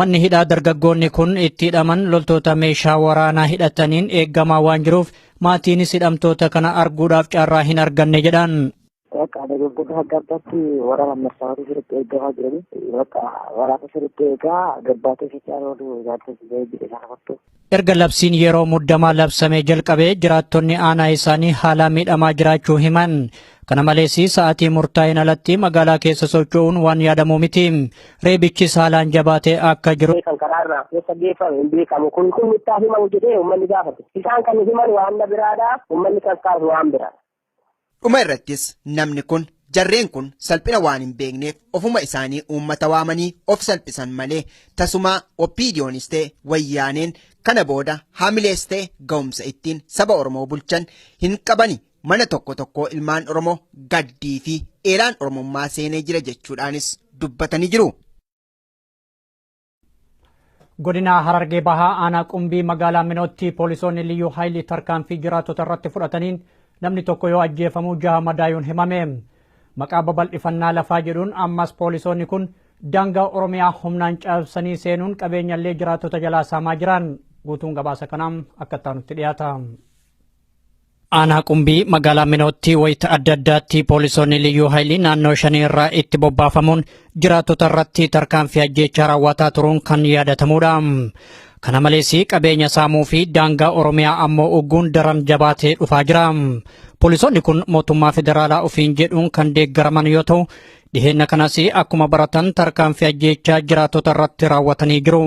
Manni hidhaa dargaggoonni kun itti hidhaman loltoota meeshaa waraanaa hidhataniin eegamaa waan jiruuf maatiinis hidhamtoota kana arguudhaaf carraa hin arganne jedhan. Bakka dargaggoota adda addaatti waraana marsaawwan sirriitti eegamaa jiranii bakka waraana sirriitti eegaa gabbaatee socho'aa oolu ilaalcha jedhee isaan hafatu. Erga labsiin yeroo muddamaa labsamee jalqabee jiraattonni aanaa isaanii haalaa miidhamaa jiraachuu himan. Kana malees sa'aatii murtaa'een alatti magaalaa keessa socho'uun waan yaadamuu miti. Reebichis haalaan jabaatee akka jiru. kan karaarraa keessa geeffame hin beekamu kun kun nuttaa himamu jedhee uummanni gaafate. Isaan kan himan waan na biraadha uummanni kan kaasu waan biraadha. Dhuma irrattis namni kun jarreen kun salphina waan hin beekneef ofuma isaanii uummata waamanii of salphisan malee tasumaa OPDOnis ta'e wayyaaneen kana booda haamilees ta'e ga'umsa ittiin saba Oromoo bulchan hin qabani mana tokko tokkoo ilmaan Oromoo gaddii fi eelaan Oromummaa seenee jira jechuudhaanis dubbatanii jiru. Godina Harargee Bahaa aanaa Qumbii magaalaa Minootti poolisoonni liyyuu haayilii tarkaanfii jiraattota irratti fudhataniin namni tokko yoo ajjeefamu jaha madaayuun himame. Maqaa babal'ifannaa lafaa jedhuun ammas poolisoonni kun daangaa Oromiyaa humnaan cabsanii seenuun qabeenyallee jiraattota jalaa saamaa jiran. Guutuun gabaasa kanaa akka itti aanutti dhiyaata. Aanaa Qumbii magaalaa Minootti wayita adda addaatti poolisoonni liyyuu haayilii naannoo shanii irraa itti bobbaafamuun jiraattota irratti tarkaanfii ajjeechaa raawwataa turuun kan yaadatamudha. Kana malees qabeenya saamuu fi daangaa Oromiyaa ammoo ugguun daran jabaatee dhufaa jira. Poolisoonni kun mootummaa federaalaa ofiin jedhuun kan deeggaraman yoo ta'u, Dhiheenna kanas akkuma baratan tarkaanfii ajjeechaa jiraattota irratti raawwatanii jiru.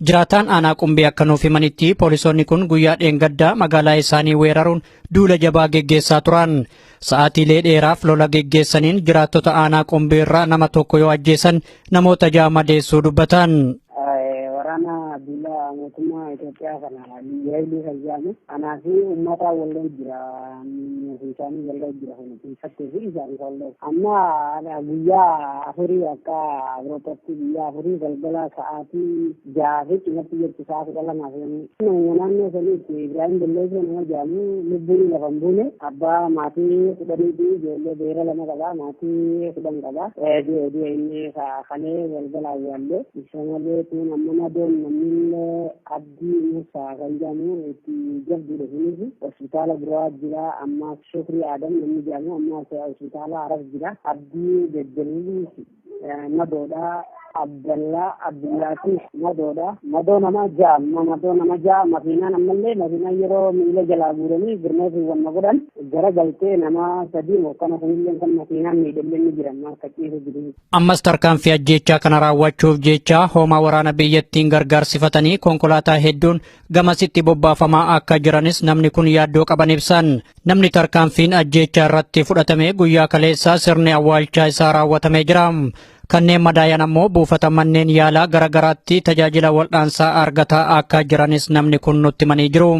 Jiraataan aanaa qumbii akka nuuf himanitti poolisoonni kun guyyaa dheengaddaa magaalaa isaanii weeraruun duula jabaa geggeessaa turan. Sa'aatiilee dheeraaf lola geggeessaniin jiraattota aanaa qumbii irraa nama tokko yoo ajjeesan namoota ja'a madeessuu dubbatan. Waraana duula mootummaa Itoophiyaa kana Waylii Fayyaana anaa fi ummata wallee jira fiisaanii wallee jira kun fiisattee fi isaanii wallee amma guyyaa afurii akka Awurooppatti guyyaa afurii galgala sa'aatii jaha fi cimatti jirtu sa'a kudha lamaa fi nama naannoo saniitti Ibrahim Balleessoo nama jedhamu lubbuun lafa hin buune abbaa maatii kudhanii fi ijoollee beera lama qaba maatii kudhan qaba du'e du'e inni kalee galgala awwaallee isa malee tuun amma madoon namni Abdii Muusaa kan jedhamu itti jabduudha sunis hospitaala biraa jira ammaas Shukrii Aadam namni jedhamu ammaas hospitaala Harar jira Abdii Jajjaliilis madoodha Abdallaa Abdullaatiif madoodha madoo nama ja'a amma madoo nama ja'a makiinaan ammallee makiinaan yeroo miila jalaa guuranii birmeetiin wanna godhan gara galtee nama sadii mokkana kunillee kan makiinaan miidhamne ni jira amma akka ciisu jiru. Ammas tarkaanfii ajjeechaa kana raawwachuuf jecha hoomaa waraana biyyattiin gargaarsifatanii konkolaataa hedduun gamasitti bobbaafamaa akka jiranis namni kun yaaddoo qaban ibsan. Namni tarkaanfiin ajjeechaa irratti fudhatame guyyaa kaleessaa sirni awwaalchaa isaa raawwatamee jira. Kanneen madaayan ammoo buufata manneen yaalaa gara garaatti tajaajila wal'aansaa argataa akka jiranis namni kun nutti himanii jiru.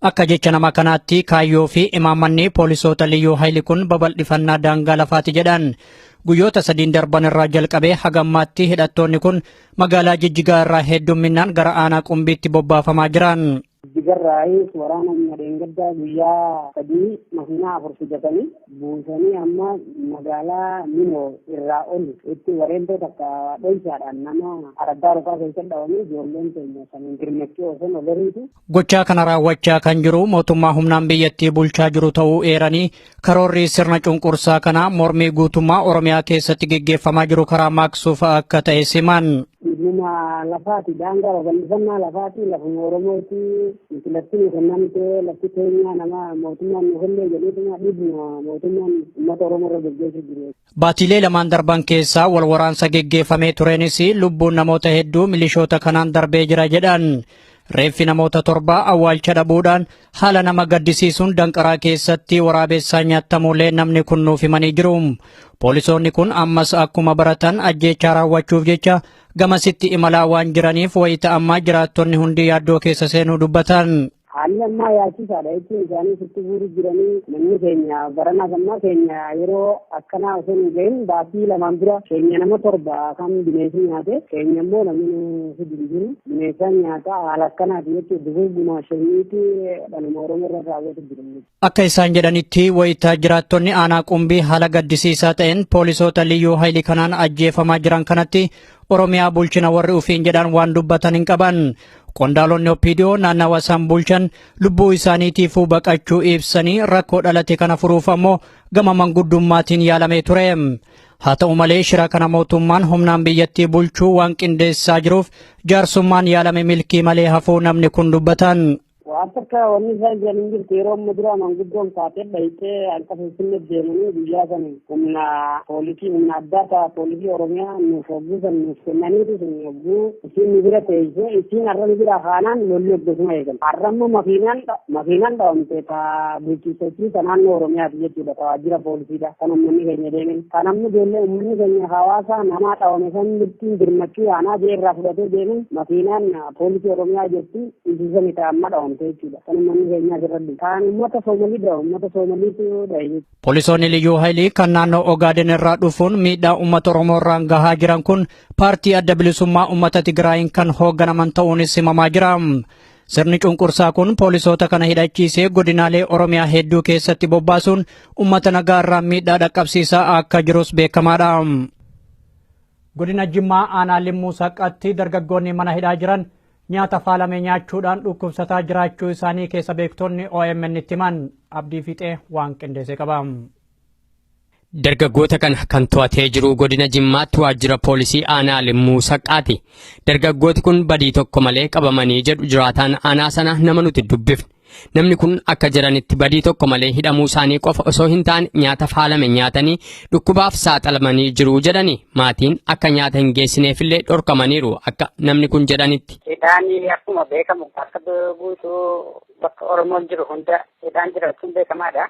Akka jecha nama kanaatti kaayyoo fi imaammanni poolisoota liyyuu hayli kun babal'ifannaa daangaa lafaati jedhan. Guyyoota sadiin darban irraa jalqabee haga ammaatti hidhattoonni kun magaalaa Jijjigaa irraa heddumminaan gara aanaa Qumbiitti bobbaafamaa jiran. Jijjigarraayis waraana humna dheengaddaa guyyaa sadii makiinaa afur fidatanii buusanii amma magaalaa Minoo irraa ol itti wareentoo takka dhoysaadhaan nama araddaa rufaa keessatti dhawamee ijoolleen keenya saniin dirmachuu osoo nagariitu. Gochaa kana raawwachaa kan jiru mootummaa humnaan biyyattii bulchaa jiru ta'uu eeranii karoorri sirna cunqursaa kanaa mormii guutummaa Oromiyaa keessatti geggeeffamaa jiru karaa maaqsuuf akka ta'e siman. Dhimma lafaati daangaa babal'ifannaa lafaati lafuma Oromooti nuti lafti nu kennamte lafti keenya nama mootummaan nu kenne jedheetuma dhiibuma mootummaan uummata Oromoo irra gaggeessu jiru. Baatiilee lamaan darban keessa wal waraansa geggeeffamee tureenis lubbuun namoota hedduu milishoota kanaan darbee jira jedhan. Reeffi namoota torbaa awwaalcha dhabuudhaan haala nama gaddisiisuun danqaraa keessatti waraabessaa nyaattamuulee namni kun nuuf himanii jiru. Poolisoonni kun ammas akkuma baratan ajjeechaa raawwachuuf jecha gamasitti imalaa waan jiraniif wayita ammaa jiraattonni hundi yaaddoo keessa seenuu dubbatan. Haalli ammaa yaachisaadha jechuun isaanii sitti guuruu jiranii namni keenya baranaas ammaa keenya yeroo akkanaa osoo hin gahin baasii lamaan dura keenya nama torba kan bineensi nyaate keenya immoo namni hidhi hin jiru bineensaan nyaata haala akkanaati jechuun dugugguma shaniiti dhaluma oromoo irra raawwatu jiru. Akka isaan jedhanitti wayita jiraattonni aanaa qumbii haala gaddisiisaa ta'een poolisoota liyyuu hayilii kanaan ajjeefamaa jiran kanatti Oromiyaa bulchina warri ufiin jedhan waan dubbatan hin qaban. Qondaalonni Oppiidiyoo naannawa isaan bulchan lubbuu isaaniitiifuu baqachuu ibsanii rakkoo dhalate kana furuuf ammoo gama manguddummaatiin yaalamee ture. Haa ta'u malee shira kana mootummaan humnaan biyyattii bulchuu waan qindeessaa jiruuf jaarsummaan yaalame milkii malee hafuu namni kun dubbatan. Waan takka wanni isaan jiran hin jirtu yeroo amma duraa manguddoon kaatee dhayxee akka finfinnee deemanii guyyaa san humna poolisii humna addaa ta'a poolisii oromiyaa nuuf hogguu san nuuf kennaniitu sun hogguu isiin nu bira teessee isiin har'a nu bira kaanaan lolli hoggasuma eegan har'a immoo makiinaan makiinaan dhawamte ta bulchiisachii ta naannoo oromiyaati jechuudha ta waajjira poolisiidha kan ummanni keenya deemen kan amma ijoollee ummanni keenya hawaasaa namaa dhawame san mirtiin birmachuu yaanaa jee irraa fudhatee deemen makiinaan poolisii oromiyaa jirti Injisa ni ta'a amma dhawamte jechuudha. Kan uummanni keenyaa jirradhu. Kan uummata Soomalii dha. Uummata Soomaliitu dha. Poolisoonni Liyyuu Haayilii kan naannoo Ogaaden irraa dhufuun miidhaa uummata Oromoo irraan gahaa jiran kun paartii adda bilisummaa uummata Tigraayiin kan hoogganaman ta'uunis himamaa jira. Sirni cunqursaa kun poolisoota kana hidhachiisee godinaalee Oromiyaa hedduu keessatti bobbaasuun uummata nagaa irraan miidhaa dhaqqabsiisaa akka jirus beekamaadha. Godina Jimmaa aanaa Limmuu Saqqatti dargaggoonni mana hidhaa jiran Nyaata faalame nyaachuudhaan dhukkubsataa jiraachuu isaanii keessa beektonni OMN'tti himan. Abdii Fiixee waan qindeesse qaba. Dargaggoota kana kan to'atee jiru godina Jimmaatti waajjira poolisii aanaa Limmuu Saqqaati. Dargaggooti kun badii tokko malee qabamanii jedhu jiraataan aanaa sana nama nuti dubbifne. Namni kun akka jiranitti badii tokko malee hidhamuu isaanii qofa osoo hin taane nyaata faalame nyaatanii dhukkubaaf saaxilamanii jiru jedhani. Maatiin akka nyaata hin geessineefillee dhorkamaniiru akka namni kun jedhanitti. Hidhaan akkuma beekamu akka guutuu bakka Oromoon jiru hunda hidhaan jiraachuun beekamaadha.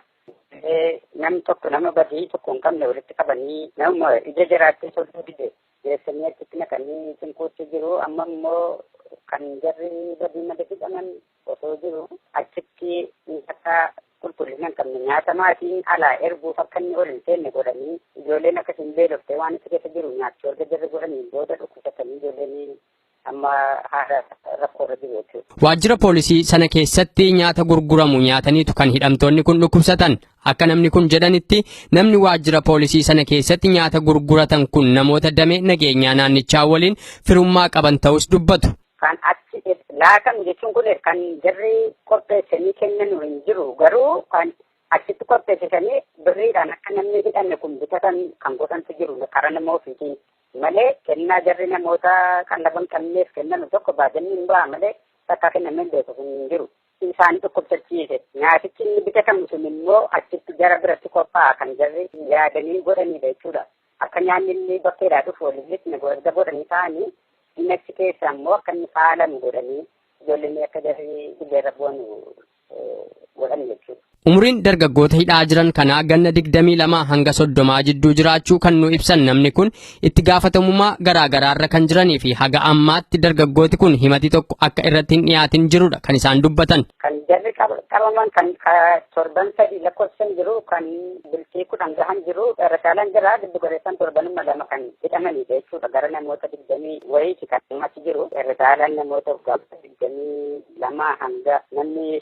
Namni tokko nama badii tokko hin qabne walitti qabanii nama ija jiraatee sodduu dide geessanii achitti naqanii cinquutti jiru amma immoo kan jarri badii malee hidhaman osoo jiru achitti nyaata qulqullina hin qabne nyaata maatiin alaa erguuf akka inni ol hin seenne godhanii ijoolleen akka hin beelofte waan itti keessa jiru nyaachuu erga jirri godhanii booda dhukkubsatanii ijoolleen amma haala rakkoorra jiru jechuudha. Waajjira poolisii sana keessatti nyaata gurguramu nyaataniitu kan hidhamtoonni kun dhukkubsatan. Akka namni kun jedhanitti namni waajjira poolisii sana keessatti nyaata gurguratan kun namoota damee nageenyaa naannichaa waliin firummaa qaban ta'us dubbatu. kan achi laatamu jechuun kun kan jarri qopheessanii kennanu hin jiru garuu kan achitti qopheessisanii birriidhaan akka namni hidhame kun bitatan kan godhantu jiru karaa nama ofiitiin malee kennaa jarri namoota qallaban qabneef kennanu tokko baajanii hin ba'a malee takka kennamee beeku kun hin jiru. Isaan dhukkubsachiise nyaatichi inni bitatamu sun immoo achitti jara biratti qophaa'a kan jarri yaadanii godhanidha jechuudha. Akka nyaanni inni bakkeedhaa dhufu waliin lixne erga godhanii taa'anii inni achi keessa ammoo akka inni faalamu godhanii ijoolleen akka jarri dirreerra bu'anu godhan jechuudha. Umuriin dargaggoota hidhaa jiran kanaa ganna 22 hanga 30 jidduu jiraachuu kan nu ibsan namni kun itti gaafatamummaa garaa garaarra kan jiranii fi haga ammaatti dargaggooti kun himati tokko akka irratti hin dhiyaatin jirudha kan isaan dubbatan. Kan jarri qabaman kan torban sadii lakkoofsan jiru kan bultii kudhan gahan jiru irra caalaan jira giddu galeessaan torbanuma lama kan hidhamanidha jechuudha gara namoota digdamii wayiiti kan achi jiru irra caalaan namoota digdamii lama hanga namni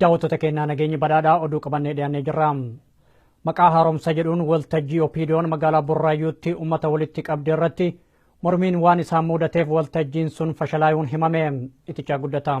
daawwattoota keenyaa nageenyi badhaadhaa oduu qabannee dhiyaannee jirra. Maqaa haaromsa jedhuun waltajjii Opiidiyoon magaalaa Burraayyuutti uummata walitti qabde irratti mormiin waan isaan muudateef waltajjiin sun fashalaayuun himame itichaa guddata.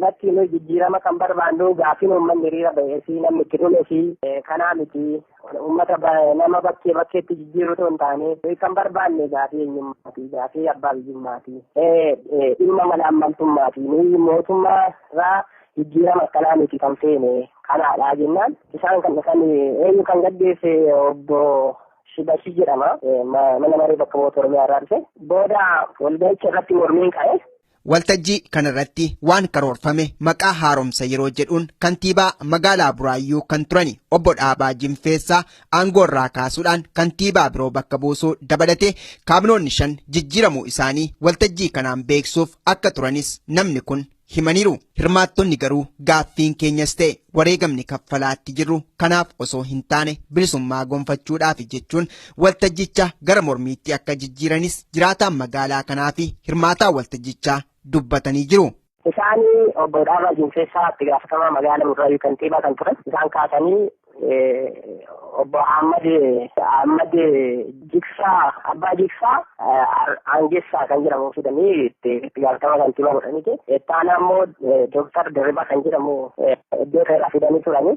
Lakki nuyi jijjiirama kan barbaannu gaaffiin uummanni hiriira ba'ee fi namni itti dhume fi kanaa miti uummata nama bakkee bakkeetti jijjiiruu otoo hin taane nuyi kan barbaanne gaaffii eenyummaati gaaffii abbaa biyyummaati dhimma mala ammaltummaati nuyi mootummaa irraa jijjiirama akkanaa miti kan feene kanaadha jennaan isaan kan dhufan eenyu kan gaggeesse obbo Shibashii jedhama mana maree bakka bu'oota Oromiyaa irraa dhufe booda walga'icha irratti mormiin ka'e. Waltajjii kanarratti waan karoorfame maqaa haaromsa yeroo jedhuun kantiibaa magaalaa Buraayyuu kan turani obbo Dhaabaa Jinfeessaa aangoorraa kaasuudhaan kantiibaa biroo bakka buusuu dabalatee kaabinoonni shan jijjiiramuu isaanii waltajjii kanaan beeksuuf akka turanis namni kun himaniiru. Hirmaattonni garuu gaaffiin keenyas ta'e wareegamni kaffalaatti jirru kanaaf osoo hin taane bilisummaa gonfachuudhaafi jechuun Waltajjicha gara mormiitti akka jijjiiranis jiraataan magaalaa kanaa fi hirmaataa waltajjichaa dubbatanii jiru. Isaan obbo Dhaabaa Jinfeessaa itti gaafatamaa magaalaa Burraayyuu kantiibaa kan turan isaan kaasanii obbo Ahmad Ahmad Jigsaa Abbaa Jigsaa Aangessaa kan jedhamu fidanii itti gaafatamaa kantiibaa godhaniiti. Ittaanaa immoo Dooktar Dirribaa kan jedhamu iddoo irraa fidanii turanii.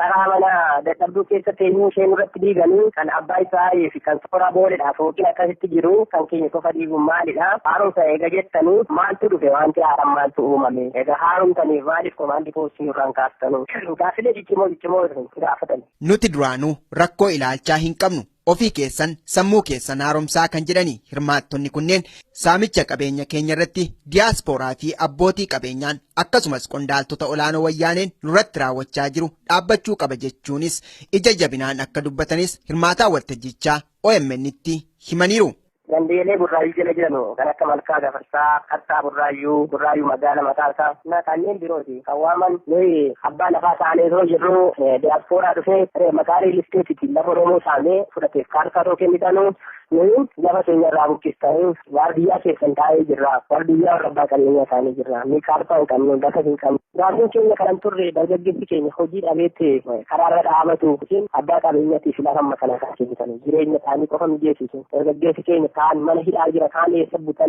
Taraa mana dadhabduu keessa teenyuu ishee nurratti diiganii kan abbaa Israa'elii fi kan sooraa booledha fooqiin akkasitti jiru kan keenya qofa diiguun maalidha? Haaromsa eega jettanii maaltu dhufe wanti haaraan maaltu uumame? Egaa haaromtaniif maaliif komaandii poostii nurraan kaastanu? Gaaffilee ciccimoo ciccimoo isin gaafatani. Nuti duraanuu rakkoo ilaalchaa hin qabnu. ofii keessan sammuu keessan haaromsaa kan jedhani hirmaattonni kunneen saamicha qabeenya keenya irratti diyaaspooraa fi abbootii qabeenyaan akkasumas qondaaltota olaanoo wayyaaneen nurratti raawwachaa jiru dhaabbachuu qaba jechuunis ija jabinaan akka dubbatanis hirmaataa waltajjichaa OMN'tti himaniiru. Gandeelee burraayyuu jala jiranu kan akka Malkaa Gafarsaa, Qarsaa Burraayyuu, Burraayyuu Magaala mataa isaa na kanneen birooti kan waaman nuyi abbaa lafaa taanee osoo jirru diyaaspooraa dhufee maqaa riil isteetiitiin lafa Oromoo saamee fudhateef kaartaa otoo kennitanu nuyi lafa keenya irraa buqqistanii waardiyyaa keessan taa'ee jirra. Waardiyyaa warra abbaa qabeenyaa taa'ee jirra. Nuyi kaartaa hin qabnu, lafa hin qabnu. Gaaffiin keenya kanan turre dargaggeessi keenya hojii dhabeetti karaarra dhaabatu yookiin abbaa qabeenyaatii fi lafa amma kana kan kennitan jireenya isaanii qofa mijeessitu dargaggeessi keenya kaan mana hidhaa jira kaan eessa butan